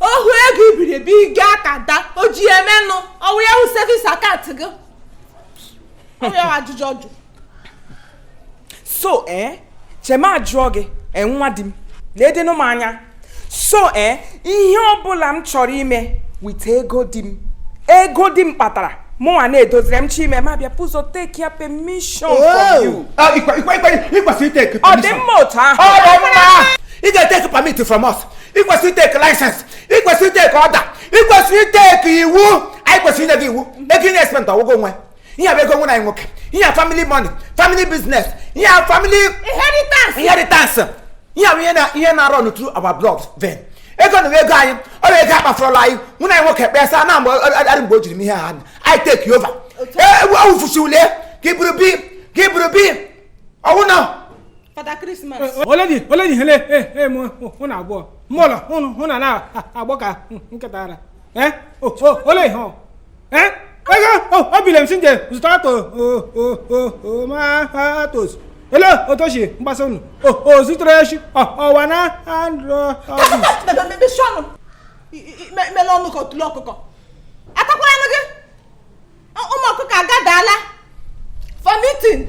ọ wụ ego i buru ebe ị gaa ka da o ji emenụ ọ wụ ya wụ savings account gị ọ wụ ya ajụjụ ọjụ so ee eh, chee m ajụọ gị eh, nwa di m ledenụ m anya so ee eh, ihe ọbụla m chọrọ ime with ego di m ego di m kpatara mụnwa na-edoziri m chọọ ime m abịa bụ ụzọ take ya permission from you. Ah, ọ dị mma otu ahụ. ị ga-eteki permit from us ị kwesịrị iteke license ị kwesịrị iteke order ị kwesịrị iteke iwu anyị kwesịrị inye gị iwu ego ị na-espend ọ wụ gị nwe ihe bụ ego nwanne m nwoke ihe family money family business ihe family inheritance inheritance ihe bụ ihe na-arun through our blood vein ego na ego anyị ọ bụ ego akpafụrụla anyị nwanne m nwoke kpesa na mgbe adị mgbe o jiri m ihe ha anyị take over ebufusi ole ka i buru bịa ka i buru bịa ọ wụ na Father Christmas oledi oledi hele ee mụ hụ na abụọ mụlọ ọnụ hụ na na-agbọ ka nkịta ara ee ole ihe ọ ee ego obile m sị nje zụta tomatoes lee otu o si gbasa ọnụ o zutere echi ọwa na andro mele ọnụ ka otule ọkụkọ atakwara gị ụmụ ọkụkọ agadaala for meeting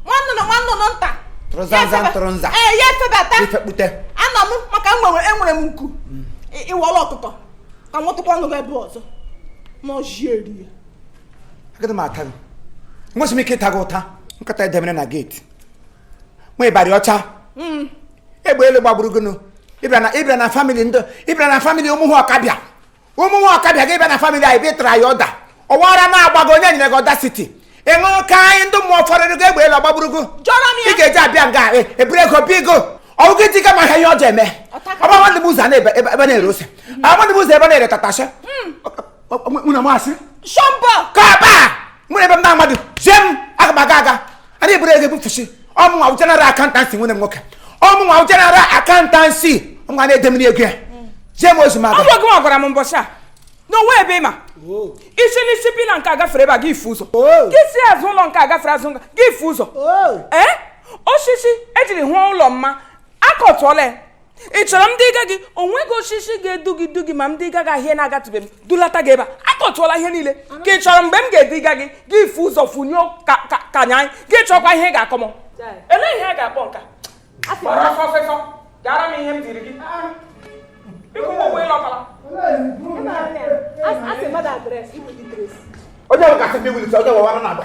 nwa nnụnụ nwa nnụnụ nta tụrụzanza ntụrụnza ee ya efebata ifekpute anọ m maka enwere enwere m nku ị wọla ọkụkọ ka m tụkwa ọnụ ebe ọzọ n'ọjie rie agadi m ata gị enweghị m ike ịta gị ụta nkịta e demere na gate nwa ịbarị ọcha hmm. egbe elu gbagburu gị nụ ị bịa na family ndị ị bịa na family ụmụ nwa Ọkabịa ụmụ nwa Ọkabịa gị bịa na family anyị bịtara ya order ọ wụ ara na-agba gị onye nyere gị audacity ị ṅụrụ kaịkaị ndị mmụọ fọrọrụ gị egbe elu agbagburu gị jụọrọ m ya. ị ga-eji abịa nga e- eburu ego bịa ego ọ wụ gị dịga maka ihe o ji eme ọ bụ amadụ m ụzọ na ebe ebe ebe na-ere ose ọ bụ amadụ m ụzọ ebe na-ere tatashe mụ na masị shọmbọ kọba mụ na ebe m na-amadụ zie m aga m aga aga a na-eburu ego ebufusi ọ mụnwa wụ general accountancy nwanne m nwoke ọ mụnwa wụ general accountancy ọ mụnwa na-edemere ego ya zie m ozi m aga ọ wụ gị gwara m mbọchị a na o nwe ebe ị ma isi n'isi pillar nke agafere ebe a gị ifu ụzọ gị si azụ ụlọ nke agafere azụ gị ifu ụzọ ee osisi e jiri chọọ ụlọ mma akọtụọla ya ị chọrọ m duga gị o nweghị osisi ga-edu gị du gị ma m duga gị ahịa na-agatụbe m dulata gị ebe a akọtụọla ihe niile ka ị chọrọ mgbe m ga-eduga gị gị ifu ụzọ funye ka nya anyị gị chọkwa ihe ị ga-akọ m elee ihe a ga-akpọ nka gbara afọ fefọ gara m ihe m duru gị ị kwụọ m ụgwọ ị lọtala onye bụ kasị ndị wulite onye wụ ara na-agba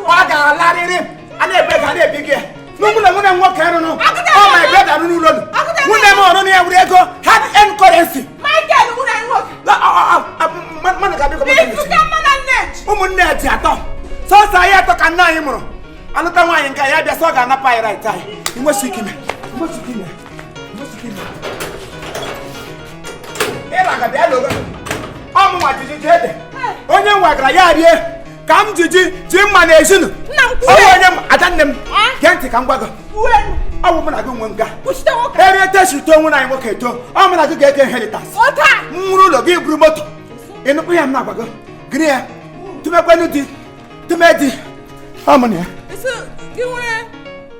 ọ ga-alarịrị a na-ebe ka a na-ebi gị n'ụmụ na nwunye nwoke rụnụ ọ my brother rụrụ ụlọ nwunye m ọrụ ya were ego hard earned currency ụmụnne dị atọ sọsọ anyị atọ ka nna anyị mụrụ anụta nwaanyị nke ya bịa sọ ọ ga-anapụ anyị right anyị nwesị ike ime onye wegara ya rie ka m ji ji ji mma na ezinụnọ onye m ada nne m gee ntị ka m gwa gị ọ bụ mụ na gị nwe nga erie tesi uto onwe na anyị nwoke eto ọ mụ na gị ga-eke inheritance m were ụlọ gị buru moto ị nụkwa ya m na-agwa gị gịnị ya tụmekwenu di tụme di ọ mụ na ya